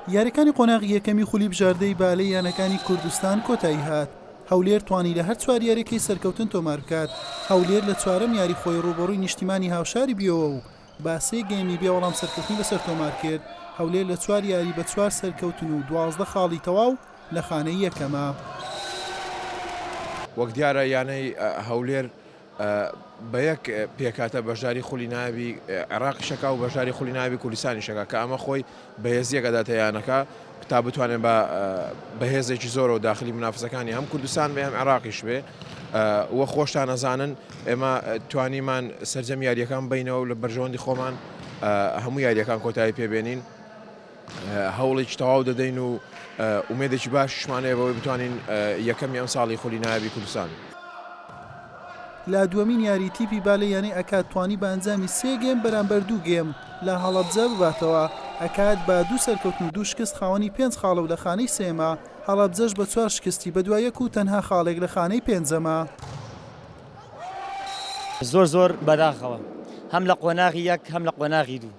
یاریەکانی قۆناغی یەکەمی خولی بژاردەی بالەی یانەکانی کوردستان کۆتایی هات هەولێر توانی لە هەر چوار یاریەکەی سەرکەوتن تۆمار بکات هەولێر لە چوارەم یاری خۆی ڕوبەڕووی نیشتیمانی هاوشاری بیەوە و با سێ گەیمی بێ وەڵام سەرکەوتنی بەسەر تۆمار کرد هەولێر لە چوار یاری بە چوار سەرکەوتن و دوازدە خاڵی تەواو لە خانەی یەکەمە. وەک دیارە یانەی هەولێر بە یەک پێکهاتە بەشداری خولی نایابی عێراقیش ئەکا و بەشداری خولی نایابی کوردستانیش ئەکا کە ئەمە خۆی بەهێزییەک ئەداتە یانەکە تا بتوانێت بە بەهێزێکی زۆرەوە داخلی منافسەکانی هەم کوردستان بێ هەم عێراقیش بێ وە خۆشتان ئەزانن ئێمە توانیمان سەرجەم یاریەکان بینەوە لە بەرژەوەندی خۆمان هەموو یاریەکان کۆتایی پێبێنین هەوڵێکی تەواو دەدەین و ئومێدێکی باشیشمان هەیە بەوەی بتوانین یەکەمی ئەمساڵی خولی نایابی کوردستان. لە دووەمین یاری تیپی بالێ یانەی ئەکاد توانی بە ئەنجامی سێ گێم بەرامبەر دوو گێم لە هەڵەبجە بباتەوە، ئەکاد بە دوو سەرکەوتن و دوو شکست خاوەنی پێنج خاڵە و لە خانەی سێیەمە، هەڵەبجەش بە چوار شکستی بەدوا یەک و تەنها خاڵێک لە خانەی پێنجەمە. زۆر زۆر بەداخەوە هەم لە قۆناغی یەک هەم لە قۆناغی دوو.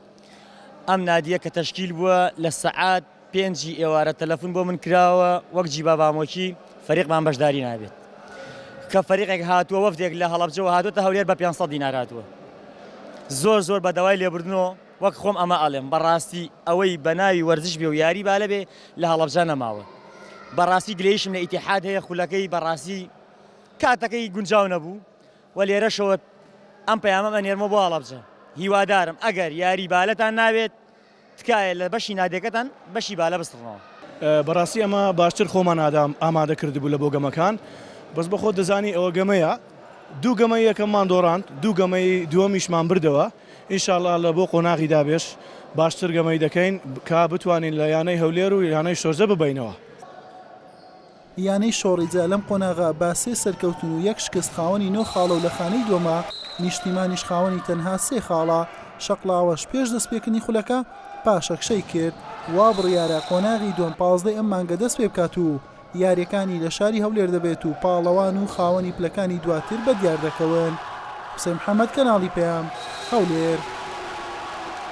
ئەم نادیە کە تەشکیل بووە لە سەعات پێنجی ئێوارە تەلەفون بۆ من کراوە وەک جیبا بامۆکی فەریقمان بەشداری نابێت کە فەریقێک هاتووە وەفدێک لە هەڵەبجەوە هاتووەتە هەولێر بە 500 دینار هاتووە زۆر زۆر بە داوای لێبوردنەوە وەک خۆم ئەمە ئەڵێم بەڕاستی ئەوەی بە ناوی وەرزش بێ و یاری بالە بێ لە هەڵەبجە نەماوە بەڕاستی گلەیشم لە ئیتیحاد هەیە خولەکەی بەڕاستی کاتەکەی گونجاو نەبوو وە لێرەشەوە ئەم پەیامەم ئەنێرمەوە بۆ هەڵەبجە هیوادارم ئەگەر یاری بالەتان ناوێت تکایە لە بەشی نادێکەتان بەشی بالە بسڕنەوە. بەڕاستی ئەمە باشتر خۆمان ئادام ئامادە کردبوو لە بۆ گەمەکان بەس بەخۆت دەزانی ئەوە گەمەیە دوو گەمەی یەکەممان دۆڕاند دوو گەمەی دووەمیشمان بردەوە ئینشاڵا لە بۆ قۆناغی دابێش باشتر گەمەی دەکەین کا بتوانین لە یانەی هەولێر و یانەی شۆرجە ببەینەوە. یانەی شۆڕیجە لەم قۆناغە بە سێ سەرکەوتن و یەک شکست خاوەنی نۆ خاڵە و لە خانەی دووەمە، نیشتیمانیش خاوەنی تەنها سێ خاڵە، شەقڵاوەش پێش دەستپێکردنی خولەکە پاشەکشەی کرد، وا بڕیارە قۆناغی دووەم پازدە ی ئەم مانگە دەستپێبکات و یارییەکانی لە شاری هەولێر دەبێت و پاڵەوان و خاوەنی پلەکانی دواتر بەدیاردەکەون. حوسێن محەمەد، کەناڵی پەیام، هەولێر.